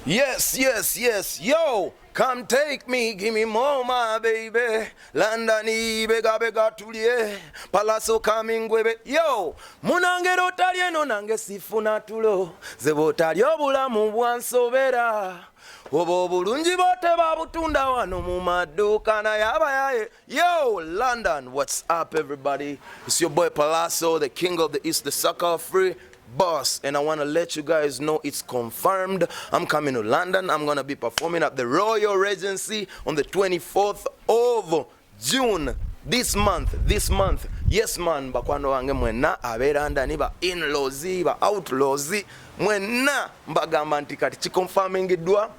Yes, yes, yes, yo, come take me, give me more, my baby. London, bega bega tulie, palaso coming webe. Yo, munangero otalye no nange sifuna tulo, zebo otalye obulamu bwansobera. Obo obulungi bote babutunda wano mu maduuka naye abayaye Yo, London, what's up, everybody? It's your boy Palazzo, the king of the East, the sucker free boss. And I want to let you guys know it's confirmed. I'm coming to London. I'm going to be performing at the Royal Regency on the 24th of June this month this month yes man bakwano wange mwenna abeera ndani ba inlaws ba outlaws mwenna mbagamba nti kati kikonfamingiddwa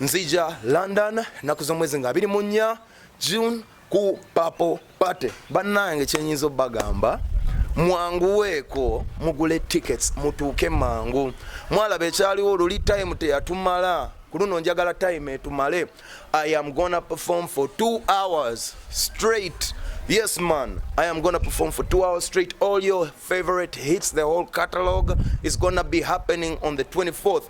nzija london naku z'omwezi nga abiri mu nnya June ku papo party bannange kyenyinza obagamba mwanguweeko mugule tickets mutuuke mangu mwalaba ekyaliwo oluli time teyatumala kuluno njagala time etumale i am gonna perform for two hours straight yes man i am gonna perform for two hours straight all your favorite hits the whole catalog is gonna be happening on the 24th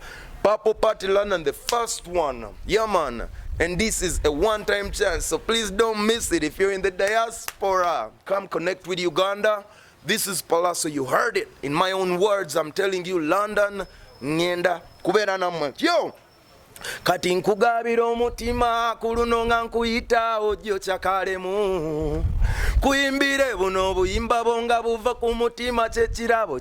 Purple Party London, the first one. Yeah, man. And this is a one time chance, so please don't miss it. If you're in the diaspora, come connect with Uganda. This is Palazzo, you heard it. In my own words, I'm telling you, London, Nienda, Kubera Namwe. Yo! Kati nkugabira omutima ku luno nga nkuyita ojjo kyakalemu kuyimbire buno obuyimba bwo nga buva ku mutima kyekirabo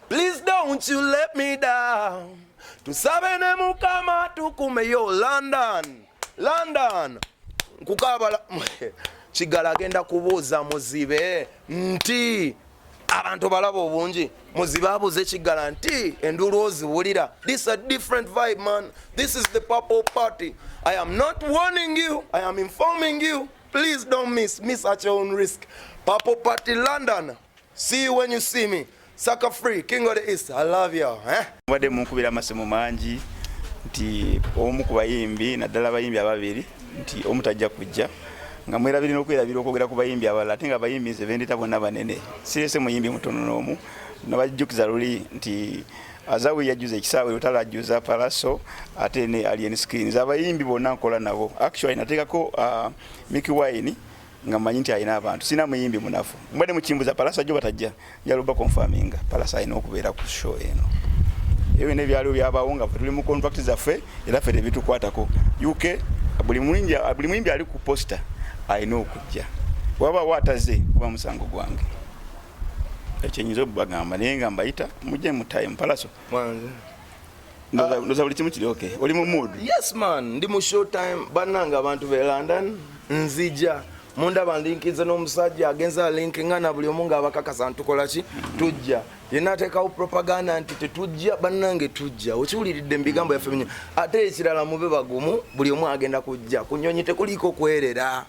Please don't you let me down. Tusabe ne mukama tukume yo London. London. Nkukabala kigala agenda kubuuza muzibe nti abantu balaba obungi muzibe abuuze kigala nti enduulu oziwulira this a different vibe man this is the purple party i am not warning you i am informing you please don't miss miss at your own risk purple party london See you when you see me. Saka free, king of the east. I love you. Eh? Mbadde munkubira amasimu mangi nti omu ku bayimbi naddala abayimbi ababiri nti omu tajja kujja nga mwerabiri n'okwerabira okwogera ku bayimbi abalala ate nga abayimbi nze bendeta bonna banene sirese muyimbi mutono n'omu nabajjukiza luli nti azawi yajjuza ekisaawe lutala ajjuza palaso ate ne alien screens abayimbi bonna nkola nabo actually nateekako uh, mickey wine nga manyi nti alina abantu sina muyimbi munafu mbadde mukimbuza palasa jo batajja njaluba confirminga palasa alina okubeera ku show eno ebyo byonna ebyaliwo byabawo nga tuli mu contract zaffe era ffe tebitukwatako uk buli muyimbi ali ku posta alina okujja waba wataze kuba musango gwange ekyenyinza obubagamba naye nga mbayita mujje mutaye mupalaso ndoza buli kimu kiri okay oli mu mood yes man ndi mu show time bananga abantu be london nzija munda banlinkinze n'omusajja agenza alinkinga na buli omu ngaabakakasa ntukola ki tujja yena ateekawo propaganda nti tetujja bannange tujja okiwuliridde mu bigambo yaffe binyo ate ekirala mube bagumu buli omu agenda kujja ku nyonyi tekuliiko kwerera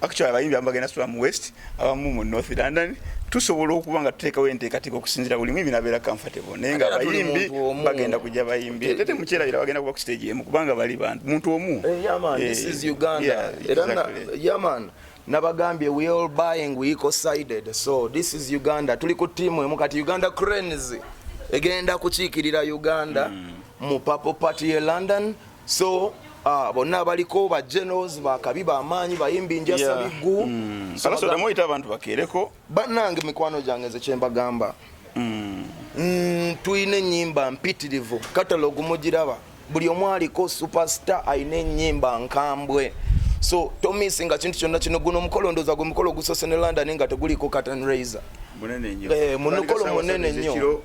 actually abayimbi abamu bagenda sula mu west abamu mu north london tusobola okuba nga tuteekawo enteekateeka okusinzira buli mwibi nabeera comfortable naye nga abayimbi bagenda kujja bayimbi ate temukyerabira bagenda kuba ku stage emu kubanga bali bantu muntu omu eh, eh, nabagambye we all buying we eco sided so this is uganda tuli ku tiimu emu kati uganda cranes egenda kukiikirira uganda mm. mu papo party e london so uh, bonna abaliko ba generals bakabi bamaanyi bayimbi njasa yeah. biggu mm. so, muyita abantu bakeereko bannange mikwano gyange nze kyembagamba mm. mm, tulina enyimba mpitirivu katalogu mugiraba buli omu aliko superstar alina enyimba nkambwe so tomisi nga kintu kyonna kino guno omukolo ndoza gwe mukolo ogusose ne london nga teguliko catan raiser munukolo munene nnyo eh,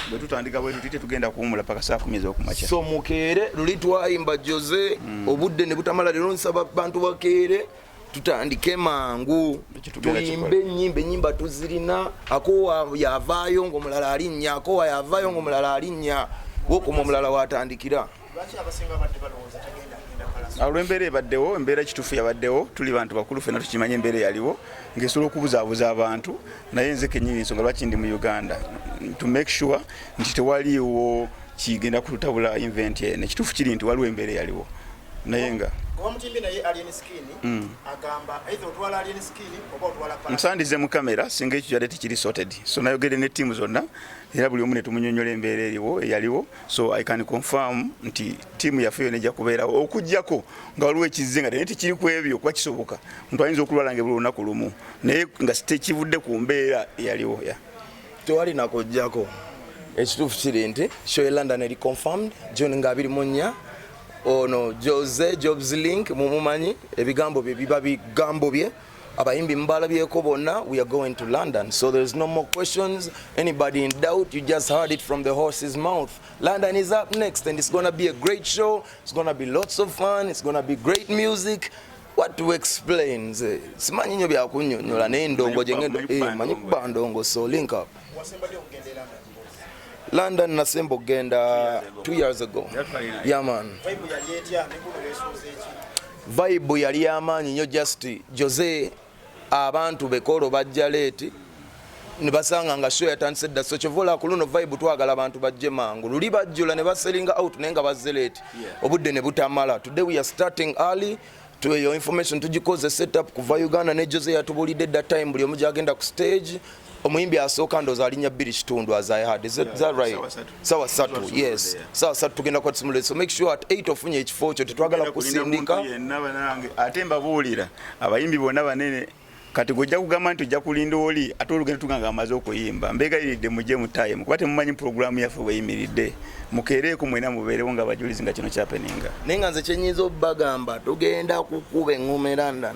bwe tutandika bwe tuti tetugenda kuwumula paka saa kumi ez'okumakya so mukeere luli twayimba jose hmm. obudde ne butamala leero nsaba bantu bakeere tutandike mangu tuyimbe enyimba enyimba tuzirina akowa yavaayo ngaomulala alinnya akowa yavaayo ngaomulala alinnya wokuma omulala watandikira olwembeera ebaddewo embeera ekituufu yabaddewo tuli bantu bakulu fena tukimanye embeera eyaliwo ngaesobola okubuzaabuza abantu naye nze kenyini ensonga lwaki ndi mu uganda to make sure nti tewaliwo kigenda kututabula invent eno ekituufu kiri nti waliwo embeera eyaliwo naye nga hmm. musandize mu kamera singa ekyo kyadde tikiri sorted so nayogere ne tiimu zonna era buli omu netumunyonyola embeera eriwo eyaliwo so i can confirm nti tiimu yaffe yona ejja kubeerawo okujjako nga waliwo ekizze nga teneti kiri ku ebyo kuba kisoboka omuntu ayinza okulwala nga ebula olunaku lumu naye nga tekivudde ku mbeera eyaliwo ya tewali nakujjako ekituufu kiri nti show e london eri confirmed june nga abiri mu nnya ono jose jobs link mumumanyi ebigambo bye biba bigambo bye abayimbi mubalabyeko bonna we are going to london so there is no more questions anybody in doubt you just heard it from the horse's mouth london is up next and it's gonna be a great show it's gonna be lots of fun it's gonna be great music what to explain nze simanyi nyo byakunyonyola naye ndongo jengendo eh, manyi kuba ndongo so link up london nasemba okugenda two years ago yaman yeah, Vibe yali yamaanyi nyo just Jose abantu bekolo bajja late nibasanga nga show yatandise dda so kyovola ku luno vibe twagala abantu bajje mangu luli bajjula ne baselinga out naye nga bazze late obudde ne butamala today we are starting early to your information tujikoze setup kuva uganda ne jose yatubulidde that time buli omu gyagenda ku stage omuyimbi asooka ndoza alinya bbiri kitundu as i had is that, yeah, that right sawa satu yes sawa satu tugenda kwa tsimulo so make sure at 8 ofunye ekifo kyo tetwagala kusindika ate mbabuulira abayimbi bonna banene kati gojja kugamba nti ojja kulinda oli ate olugendo tuganga amaze okuyimba mbegayiridde mujje mutayimu kuba temumanyi pulogulaamu yaffe weyimiridde mukeereeko mwena mubeerewo nga abajulizi nga kino kyapeninga naye nga nze kyenyinza obagamba tugenda kukuba eŋume london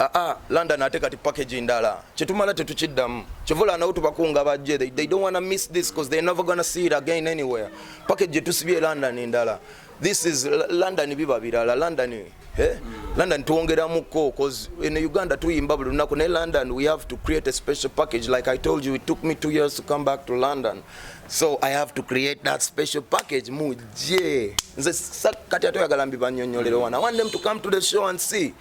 aa ah, ah, London ate kati package ndala kyetumala tetukiddamu kivula nawo tubakunga bajje they, they don't wanna miss this because they're never gonna see it again anywhere package gyetusibye London ndala this is London biba birala London eh? Mm. London tuwongeramuko cause in Uganda tuyimba buli lunaku ne London we have to create a special package like I told you it took me two years to come back to London so I have to create that special package muje nze kati atoyagala mbibanyonyolero wana I want them to come to the show and see